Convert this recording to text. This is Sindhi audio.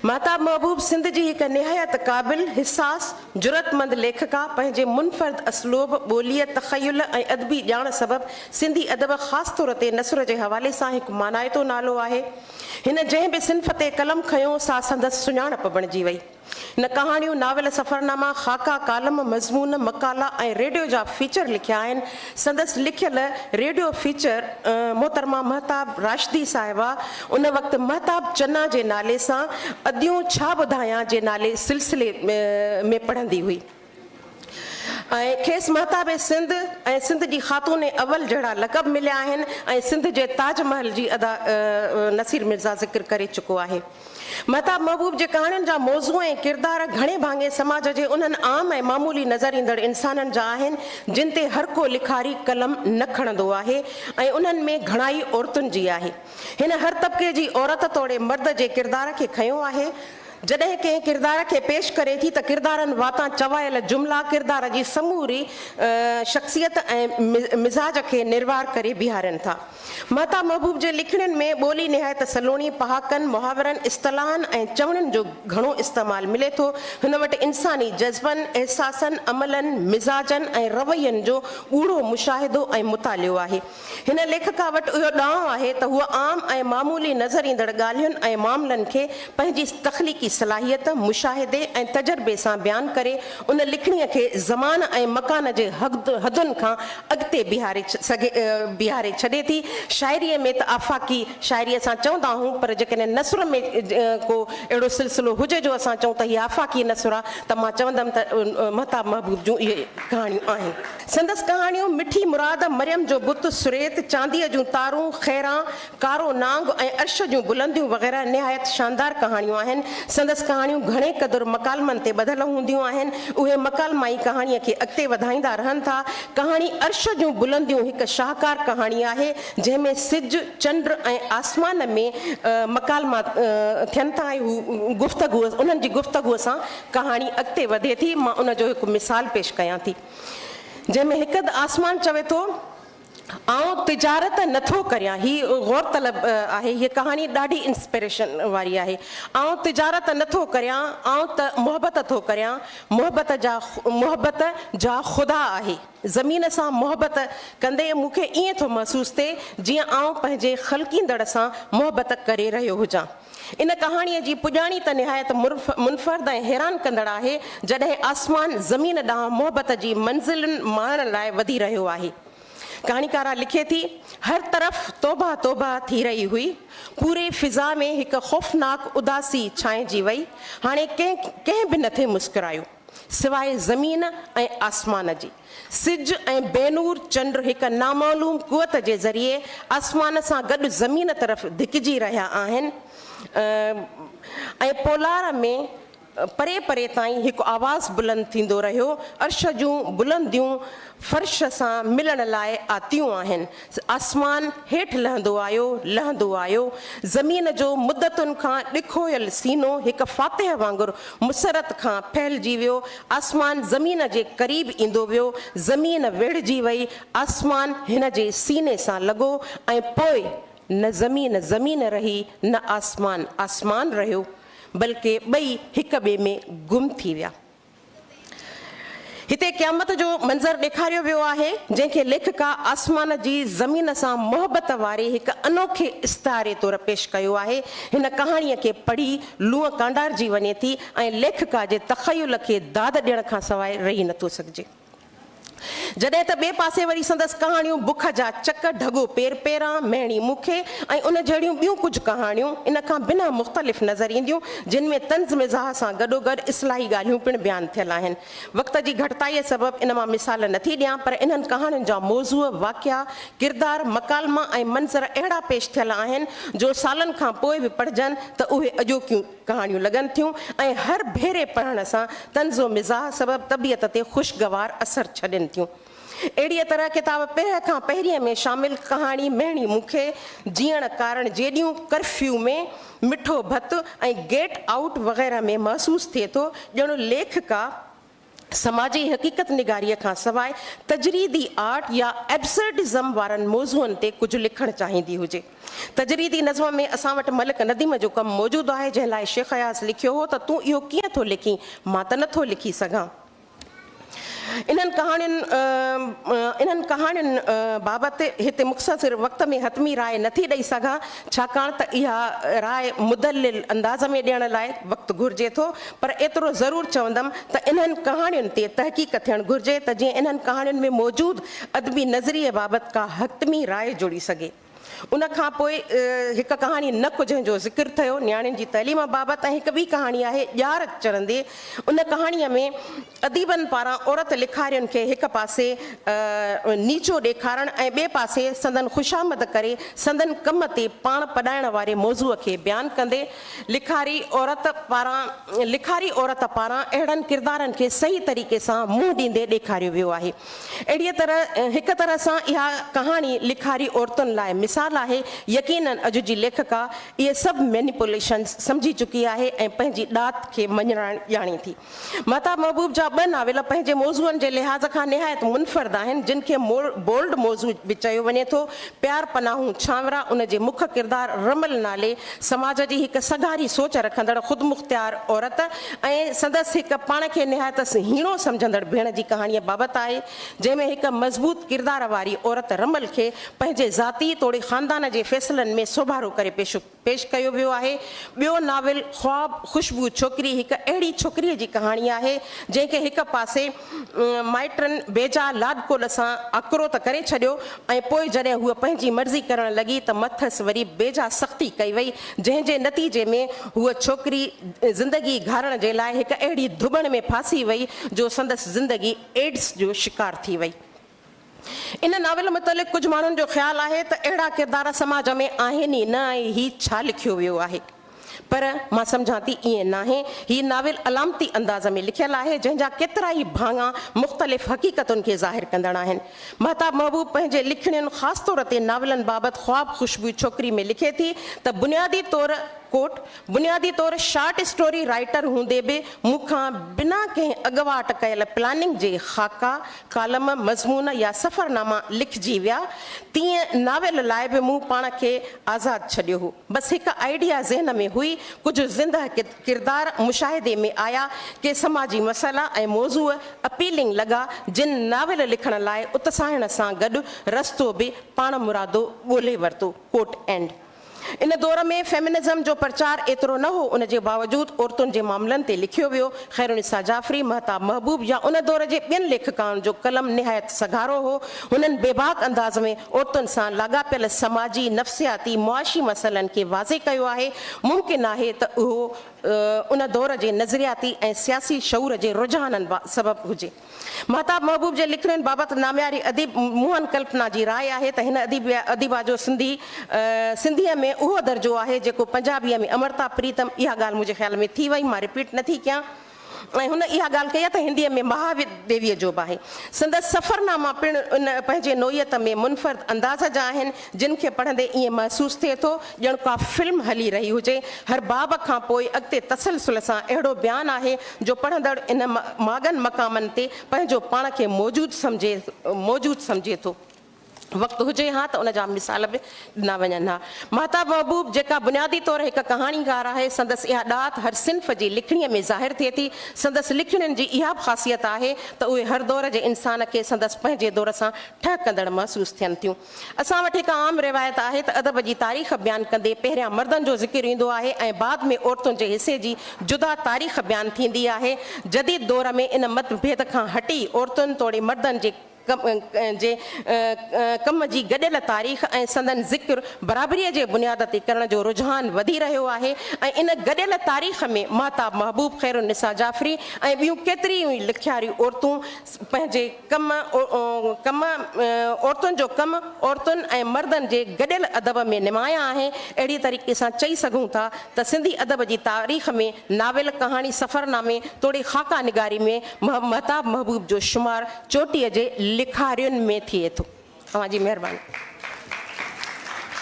مهتاب محبوب سنڌ جي هڪ نهايت قابل، حساس، جرئتمند ليکڪا پنهنجي منفرد اسلوب، ٻوليء، تخيل ۽ ادبي ڄاڻ سبب سنڌي ادب خاص طور تي نثر جي حوالي سان هڪ مانائتو نالو آهي. هن جنهن به صنف تي قلم کنيو سا سندس سڃاڻپ بڻجي وئي. هن ڪهاڻيون، ناول، سفرناما، خاڪا، ڪالم، مضمون، مقالا ۽ ريڊيو جا فيچر لکيا آهن. سندس لکيل ريڊيو فيچر محترمه مهتاب راشدي صاحبه ان وقت مهتاب چنا جي نالي سان اديون ڇا ٻڌايان جي نالي سلسلي ۾ پڙهندي هئي ۽ کيس مهتاب سنڌ ۽ سنڌ جي خاتون اول جهڙا لقب مليا آهن ۽ سنڌ جي تاج محل جي ادا نصير مرزا ذڪر ڪري چڪو آهي. مهتاب محبوب جي ڪهاڻين جا موضوع ۽ ڪردار گهڻي ڀاڱي سماج جي انهن عام ۽ معمولي نظر ايندڙ انسانن جا آهن، جن تي هر ڪو لکاري قلم نه کڻندو آهي ۽ انهن ۾ گهڻائي عورتن جي آهي. هن هر طبقي جي عورت توڙي مرد جي ڪردار کي کنيو آهي. جڏهن ڪنهن ڪردار کي پيش ڪري ٿي ته ڪردارن واتان چوايل جملا ڪردار جي سموري شخصيت ۽ مزاج کي نروار ڪري بيهارين ٿا. مهتاب محبوب جي لکڻين ۾ ٻولي نهايت سلوڻي، پهاڪن، محاورن، اصطلاحن ۽ چوڻين جو گهڻو استعمال ملي ٿو. هن وٽ انساني جذبن، احساسن، عملن، مزاجن ۽ روين جو ڳوڙهو مشاهدو ۽ مطالعو آهي. هن ليکڪا وٽ اهو ڏانء آهي ته هوء عام ۽ معمولي نظر ايندڙ ڳالهين ۽ معاملن کي پنهنجي تخليقي صلاحيت، مشاهدي ۽ تجربي سان بيان ڪري ان لکڻيء کي زمان ۽ مڪان جي حدن کان اڳتي بيهاري ڇڏي ٿي. شاعريء ۾ ته آفاقي شاعريء سان چوندا آهون پر جيڪڏهن نثر ۾ ڪو اهڙو سلسلو هجي جو اسان چئون ته هي آفاقي نثر آهي ته مان چوندم ته مهتاب محبوب جون اهي ڪهاڻيون آهن. سندس ڪهاڻيون مٺي مراد، مريم جو بت، سريت، چانديء جون تارون، خيران، ڪارو نانگ ۽ عرش جون بلنديون وغيره نهايت شاندار ڪهاڻيون آهن. سندس ڪهاڻيون گهڻي قدر مڪالمن تي ٻڌل هونديون آهن. اهي مڪالما ئي ڪهاڻيء کي اڳتي وڌائيندا رهن ٿا. ڪهاڻي عرش جون بلنديون هڪ شاهڪار ڪهاڻي آهي، جنهن ۾ سج، چنڊ ۽ آسمان ۾ مڪالما ٿين ٿا ۽ هو گفتگو انهن جي گفتگو سان ڪهاڻي اڳتي وڌي ٿي. مان ان جو هڪ مثال پيش ڪيان ٿي، جنهن ۾ هڪ هنڌ آسمان چوي ٿو. آئون تجارت نه ٿو ڪريان هي غور طلب آهي هيء ڪهاڻي ڏاڍي انسپريشن واري آهي آئون تجارت نه ٿو ڪريان آئون ته محبت ٿو ڪريان محبت جا محبت جا خدا آهي زمين سان محبت ڪندي مون کي ائين ٿو محسوس ٿئي جيئن آئون پنهنجي خلقيندڙ سان محبت ڪري رهيو هجان ان ڪهاڻيء جي پڄاڻي ته نهايت منفرد ۽ حيران ڪندڙ آهي، جڏهن آسمان زمين ڏانهن محبت جي منزلن ماڻڻ لاء وڌي رهيو آهي. ڪهاڻيڪاره لکي ٿي، هر طرف توبهه توبهه ٿي رهي هئي، پوري فضا ۾ هڪ خوفناڪ اداسي ڇانئجي وئي، هاڻي ڪنهن ڪنهن به نٿي مسڪرايو، سواء زمين ۽ آسمان جي. سج ۽ بي نور چنڊ هڪ نامعلوم قوت جي ذريعي آسمان سان گڏ زمين طرف ڌڪجي رهيا آهن ۽ پولار ۾ پري پري تائين هڪ آواز بلند ٿيندو رهيو، عرش جون بلنديون فرش سان ملڻ لاء آتيون آهن. آسمان هيٺ لهندو آيو، لهندو آيو. زمين جو مدتن کان ڏکويل سينو هڪ فاتح وانگر مسرت کان ڦهلجي ويو. آسمان زمين جي قريب ايندو ويو. زمين ويڙهجي وئي. آسمان هن جي سيني سان لڳو ۽ پوء نه زمين زمين رهي نه آسمان آسمان رهيو، بلڪه ٻئي هڪ ٻئي ۾ گم ٿي ويا. هتي قيامت جو منظر ڏيکاريو ويو آهي، جنهن کي ليکڪا آسمان جي زمين سان محبت واري هڪ انوکي استعاري طور پيش ڪيو آهي. هن ڪهاڻيء کي پڙهي لونء ڪانڊارجي وڃي ٿي ۽ ليکڪا جي تخيل کي داد ڏيڻ کانسواء رهي نٿو سگهجي. جڏهن ته ٻئي پاسي وري سندس ڪهاڻيون بک جا چڪ، ڍڳو پير پيران، مهڻي مکي ۽ ان جهڙيون ٻيون ڪجهه ڪهاڻيون ان کان بنهه مختلف نظر اينديون، جن ۾ طنز مزاح سان گڏوگڏ اصلاحي ڳالهيون پڻ بيان ٿيل آهن. وقت جي گهٽتائيء سبب ان مان مثال نه ٿي ڏيان پر انهن ڪهاڻين جا موضوع، واقعا، ڪردار، مڪالما ۽ منظر اهڙا پيش ٿيل آهن جو سالن کان پوء به پڙهجن ته اهي اڄوڪيون ڪهاڻيون لڳن ٿيون ۽ هر ڀيري پڙهڻ سان طنز و مزاح سبب طبيعت تي خوشگوار اثر ڇڏين ٿيون. اهڙيء طرح ڪتاب پرهه کان پهرينء ۾ شامل ڪهاڻي مهڻي مون کي جيئڻ ڪارڻ جيڏيون ڪرفيو ۾ مٺو ڀت ۽ گيٽ آئوٽ وغيره ۾ محسوس ٿئي ٿو ڄڻ ليکڪا سماجي حقيقت نگاريء کان سواء تجريدي آرٽ يا ائبسرڊزم وارن موضوعن تي ڪجهه لکڻ چاهيندي هجي. تجريدي نظم ۾ اسان وٽ ملڪ نديم جو ڪم موجود آهي، جنهن لاء شيخ اياز لکيو هو ته تون اهو ڪيئن ٿو لکين، مان ته نه ٿو لکي سگهان. انهن ڪهاڻين انهن ڪهاڻين بابت هتي مختصر وقت ۾ حتمي راء نه ٿي ڏئي سگهان، ڇاڪاڻ ته اها راء مدلل انداز ۾ ڏيڻ لاء وقت گهرجي ٿو، پر ايترو ضرور چوندم ته انهن ڪهاڻين تي تحقيق ٿيڻ گهرجي ته جيئن انهن ڪهاڻين ۾ موجود ادبي نظريي بابت ڪا حتمي راء جڙي سگهي. ان کان پوء هڪ ڪهاڻي نڪ جنهن جو ذڪر ٿيو نياڻين جي تعليم بابت ۽ هڪ ٻي ڪهاڻي آهي ڄار چرندي ان ڪهاڻيء ۾ اديبن پاران عورت لکارين کي هڪ پاسي نيچو ڏيکارڻ ۽ ٻئي پاسي سندن خوشامد ڪري سندن ڪم تي پاڻ پڏائڻ واري موضوع کي بيان ڪندي لکاري عورت پاران لکاري عورت پاران اهڙن ڪردارن کي صحيح طريقي سان منهن ڏيندي ڏيکاريو ويو آهي. اهڙيء طرح هڪ طرح سان اها ڪهاڻي لکاري عورتن لاء مثال آهي. يقينن اڄ جي ليکڪا اهي سڀ مينيپوليشنز سمجهي چڪي آهي ۽ پنهنجي ڏات کي مڃرائڻ ڄاڻي ٿي. مهتاب محبوب جا ٻه ناول پنهنجي موضوعن جي لحاظ کان نهايت منفرد آهن، جن کي بولڊ موضوع به چيو وڃي ٿو. پيار پناهون ڇانورا ان جي مک ڪردار رمل نالي سماج جي هڪ سگهاري سوچ رکندڙ خودمختيار عورت ۽ سندس هڪ پاڻ کي نهايت هيڻو سمجهندڙ ڀيڻ جي ڪهاڻيء بابت آهي، جنهن ۾ هڪ مضبوط ڪردار واري عورت رمل کي پنهنجي ذاتي توڙي خاندان جي فيصلن ۾ سوڀارو ڪري پيش پيش ڪيو ويو آهي. ٻيو ناول خواب خوشبو ڇوڪري هڪ اهڙي ڇوڪريء جي ڪهاڻي آهي، جنهن کي هڪ پاسي مائٽن بيجا لاڏڪوڏ سان آڪرو ته ڪري ڇڏيو ۽ پوء جڏهن هوء پنهنجي مرضي ڪرڻ لڳي ته مٿس وري بيجا سختي ڪئي وئي، جنهن جي نتيجي ۾ هوء ڇوڪري زندگي گهارڻ جي لاء هڪ اهڙي ڌٻڻ ۾ ڦاسي وئي جو سندس زندگي ايڊز جو شڪار ٿي وئي. ان ناول متعلق ڪجهه ماڻهن جو خيال آهي ته اهڙا ڪردار سماج ۾ آهن ئي نه ۽ هي ڇا لکيو ويو آهي. پر مان سمجهان ٿي ائين ناهي. هي ناول علامتي انداز ۾ لکيل آهي، جنهن جا ڪيترائي ڀاڱا مختلف حقيقتن کي ظاهر ڪندڙ آهن. مهتاب محبوب پنهنجي لکڻين خاص طور تي ناولن بابت خواب خوشبوء ڇوڪري ۾ لکي ٿي ته بنيادي طور Quote، بنيادي طور شارٽ اسٽوري رائيٽر هوندي به مون کان بنا ڪنهن اڳواٽ ڪيل پلاننگ جي خاڪا ڪالم، مضمون يا سفرناما لکجي ويا. تيئن ناول لاء به مون پاڻ کي آزاد ڇڏيو هو. بس هڪ آئيڊيا ذهن ۾ هئي، ڪجهه زندهه ڪردار مشاهدي ۾ آيا، ڪي سماجي مسئلا ۽ موضوع اپيلنگ لڳا، جن ناول لکڻ لاء اتساهڻ سان گڏ رستو به پاڻمرادو ڳولهي ورتو. ڪوٽ اينڊ. ان دور ۾ فيمنزم جو پرچار ايترو نه هو، ان جي باوجود عورتن جي معاملن تي لکيو ويو. خيرالنساء جعفري، مهتاب محبوب يا ان دور جي ٻين ليکڪائن جو قلم نهايت سگهارو هو. هنن بيباڪ انداز ۾ عورتن سان لاڳاپيل سماجي، نفسياتي، معاشي مسئلن کي واضح ڪيو آهي. ممڪن آهي ته اهو ان دور جي نظرياتي ۽ سياسي شعور جي رجحانن سبب هجي. مهتاب محبوب جي لکڻين بابت نامياري اديب موهن ڪلپنا جي راء آهي ته هن اديب يا اديبه جو سنڌي سنڌيء ۾ اهو درجو آهي جيڪو پنجابيء ۾ امرتا پريتم اها ڳالهه منهنجي خيال ۾ ٿي وئي مان رپيٽ نه ٿي ڪيان ۽ هن اها ڳالهه ڪئي آهي ته هنديء ۾ مها ديويء جو به آهي سندس سفرناما پڻ ان پنهنجي نوعيت ۾ منفرد انداز جا آهن جن کي پڙهندي ائين محسوس ٿئي ٿو ڄڻ ڪا فلم هلي رهي هجي. هر باب کان پوء اڳتي تسلسل سان اهڙو بيان آهي جو پڙهندڙ ان ماڳن مقامن تي پنهنجو پاڻ کي موجود سمجهي موجود سمجهي ٿو. وقت هجي ها ته ان جا مثال به ڏنا وڃن ها. ماهتاب محبوب جيڪا بنيادي طور هڪ ڪهاڻيڪار آهي سندس اها ڏات هر صنف جي لکڻيء ۾ ظاهر ٿئي ٿي. سندس لکڻين جي اها به خاصيت آهي ته اهي هر دور جي انسان کي سندس پنهنجي دور سان ٺهڪندڙ محسوس ٿين ٿيون. اسان وٽ هڪ عام روايت آهي ته ادب جي تاريخ بيان ڪندي پهريان مردن جو ذڪر ايندو آهي ۽ بعد ۾ عورتن جي حصي جي جدا تاريخ بيان ٿيندي آهي. جديد دور ۾ ان مت ڀيد کان هٽي عورتن توڙي مردن جي جي ڪم جي گڏيل تاريخ ۽ سندن ذڪر برابريء جي بنياد تي ڪرڻ جو رجحان وڌي رهيو آهي ۽ ان گڏيل تاريخ ۾ ماهتاب محبوب، خيرالنساء جعفري ۽ ٻيون ڪيتريون ئي لکياريون عورتون پنهنجي ڪم، ڪم، عورتن جو ڪم عورتن ۽ مردن جي گڏيل ادب ۾ نمايان آهي. اهڙي طريقي سان چئي سگهون ٿا ته سنڌي ادب جي تاريخ ۾ ناول، ڪهاڻي، سفرنامي توڙي خاڪا نگاري ۾ مهتاب محبوب جو شمار چوٽيء جي لکارين ۾ ٿئي ٿو. اوهان جي مهرباني.